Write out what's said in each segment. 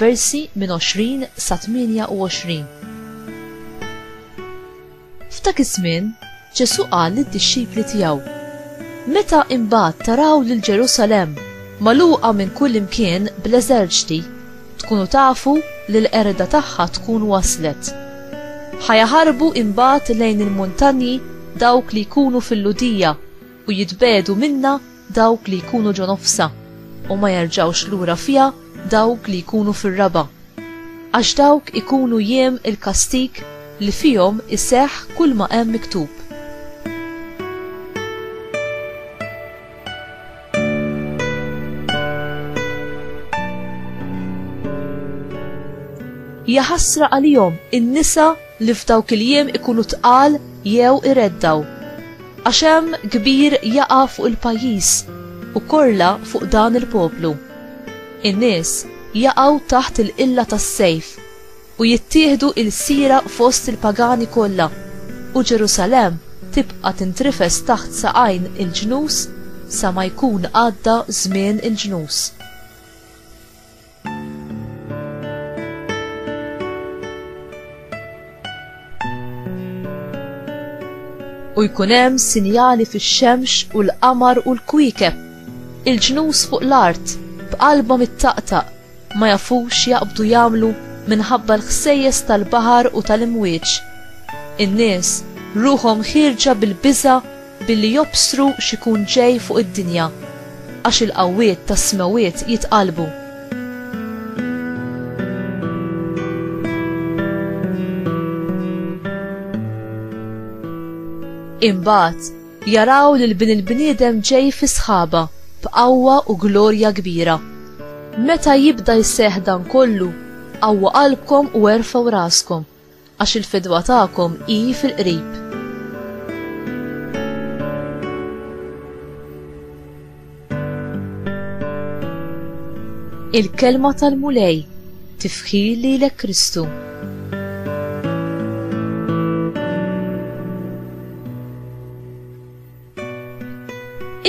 versi minn 20 sa 28. F'dak iż-żmien, Ġesù qal lid-dixxipli tiegħu, Meta imbagħad taraw lil Ġerusalemm magħluqa minn kullimkien bl-eżerċti, tkunu tafu li l-qerda tagħha tkun waslet. Ħa jaħarbu imbagħad lejn il-muntanji dawk li jkunu fil-Lhudija u jitbiegħdu minnha dawk li jkunu ġo nofsha, u ma jerġgħux lura fiha dawk li jkunu fir-raba'. Għax dawk ikunu jiem il-kastig li fihom iseħħ kulma hemm miktub. Jaħasra għalihom in-nisa li f'dawk il-jiem ikunu tqal jew ireddgħu, għax hemm kbir jaqa' fuq il-pajjiż u korla fuq dan il-poplu. In-nies jaqgħu taħt il-qilla tas-sejf, u jittieħdu ilsira fost il-pagani kollha, u Ġerusalemm tibqa' tintrifes taħt saqajn il-ġnus sa ma jkun għadda żmien il-ġnus. u jkun hemm sinjali fix-xemx u l-qamar u l-kwiekeb. Il-ġnus fuq l-art b'qalbhom ittaqtaq ma jafux jaqbdu jagħmlu minħabba l-ħsejjes tal-baħar u tal-imwieġ. In-nies ruħhom ħierġa bil-biża' billi jobstru x'ikun ġej fuq id-dinja, għax il-qawwiet tas-smewwiet jitqallbu. Imbagħad jaraw lil Bin il-bniedem ġej fis-sħaba b'qawwa u glorja kbira. Meta jibda jseħħ dan kollu, qawwu qalbkom u erfgħu raskom. Għax il-fidwa tagħkom hi fil-qrib. Il-kelma tal-Mulej tifħir lilek Kristu.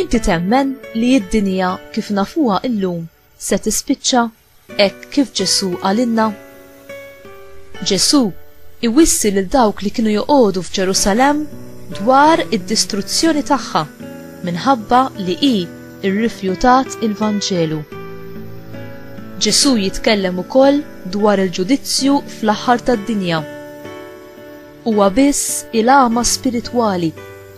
Inti temmen li id-dinja kif nafuha illum se tispiċċa Hekk kif Ġesù qalilna? Ġesù iwissi lil dawk li kienu joqogħdu f'Ġerusalemm dwar id-distruzzjoni tagħha minħabba li hi rrifjutat il-Vanġelu. Ġesù jitkellem ukoll dwar il-ġudizzju fl-aħħar tad-dinja. Huwa biss il-għama spiritwali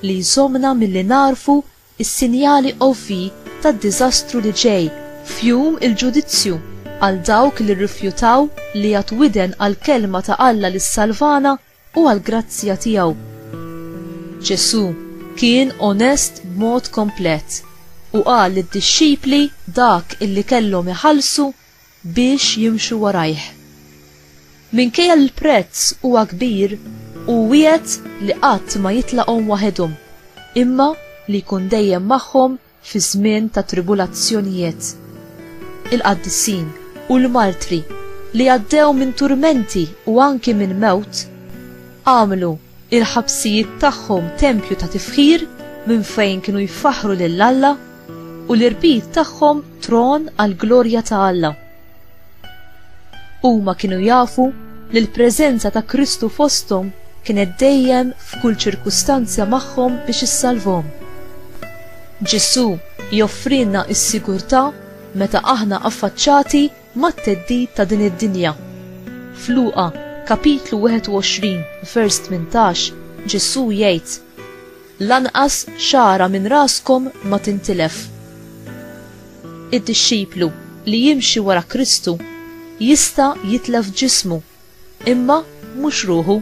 li jżommna milli nagħrfu is-sinjali ovvji tad-diżastru li ġej f'Jum il-Ġudizzju għal dawk li rrifjutaw li jagħtu widen għall-kelma ta' Alla li ssalvana u għall-grazzja tiegħu. Ġesù kien onest b'mod komplet u qal lid-dixxipli dak illi kellhom iħallsu biex jimxu warajh. Minkejja li l-prezz huwa kbir, hu wiegħed li qatt ma jitlaqhom waħedhom, imma li jkun dejjem magħhom fi żmien ta' tribulazzjonijiet. Il-qaddisin u l-martri li għaddew minn turmenti u anki minn mewt, għamlu il-ħabsijiet tagħhom tempju ta' tifħir minn fejn kienu jfaħħru lil Alla u l-irbit tagħhom tron għall-glorja ta' Alla. Huma kienu jafu li l-preżenza ta' Kristu fosthom kienet dejjem f'kull ċirkustanza magħhom biex issalvhom. Ġesù joffrilna s-sigurtà meta aħna affaċċati mat-theddid ta' din id-dinja. F'Luqa, kapitlu 21, vers 18, Ġesù jgħid, Lanqas xagħra minn raskom ma tintilef. Id-dixxiplu li jimxi wara Kristu jista' jitlef ġismu Imma mhux ruħu.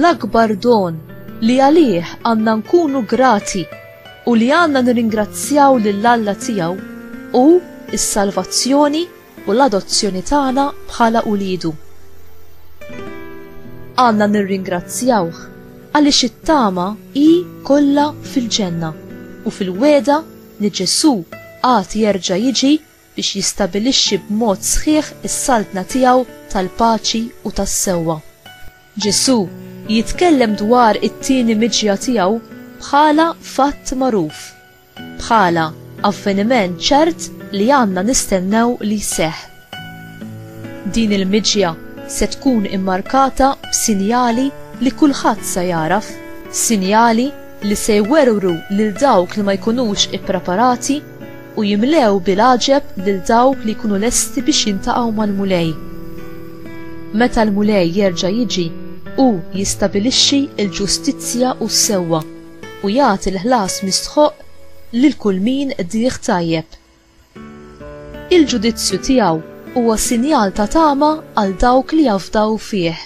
l-akbar don li għalih għanna nkunu grati u li għanna nirringrazzjaw lill-Alla tiegħu u s-salvazzjoni u l-adozzjoni tagħna bħala uliedu. Għandna nirringrazzjawh għaliex it-tama hi kollha fil-ġenna u fil-wegħda li Ġesù għad jerġa' jiġi biex jistabilixxi b'mod sħiħ is-saltna tiegħu tal-paċi u tas-sewwa. Ġesù jitkellem dwar it-tieni miġja tiegħu bħala fatt magħruf. bħala avveniment ċert li għandna nistennew li jseħħ. Din il-miġja se tkun immarkata b'sinjali li kulħadd se jagħraf, sinjali li se jwerwru lil dawk li ma jkunux ippreparati u jimlew bil-għaġeb lil dawk li jkunu lesti biex jiltaqgħu mal-Mulej. Meta l-Mulej jerġa' jiġi, hu jistabilixxi l-ġustizzja u s-sewwa. u jagħti l-ħlas mistħoqq lil kull min qdih tajjeb. Il-ġudizzju tiegħu huwa sinjal ta' tama għal dawk li jafdaw fih.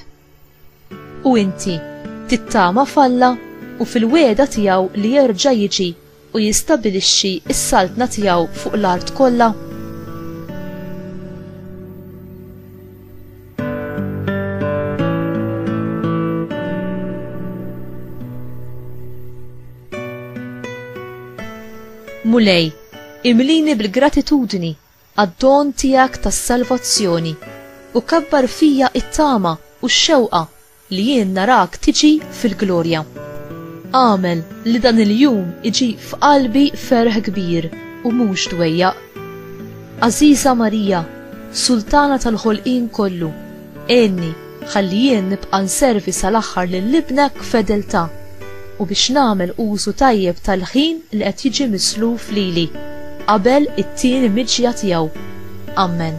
U inti, tittama f'Alla u fil-wegħda tiegħu li jerġa' jiġi u jistabilixxi s-saltna tiegħu fuq l-art kollha? Mulej, imlini bil-gratitudni għad-don tiegħek tas-salvazzjoni u kabbar fija it-tama u x-xewqa Li jien narak tiġi fil-glorja. Agħmel li dan il-jum iġib f'qalbi ferħ kbir u mhux dwejjaq. Għażiża Marija, Sultana tal-ħolqien kollu, għinni ħalli jien nibqa' nservi sal-aħħar lil Ibnek b'fedeltà u biex nagħmel użu tajjeb tal-ħin li qed jiġi misluf lili qabel it-tieni miġja tiegħu. Ammen.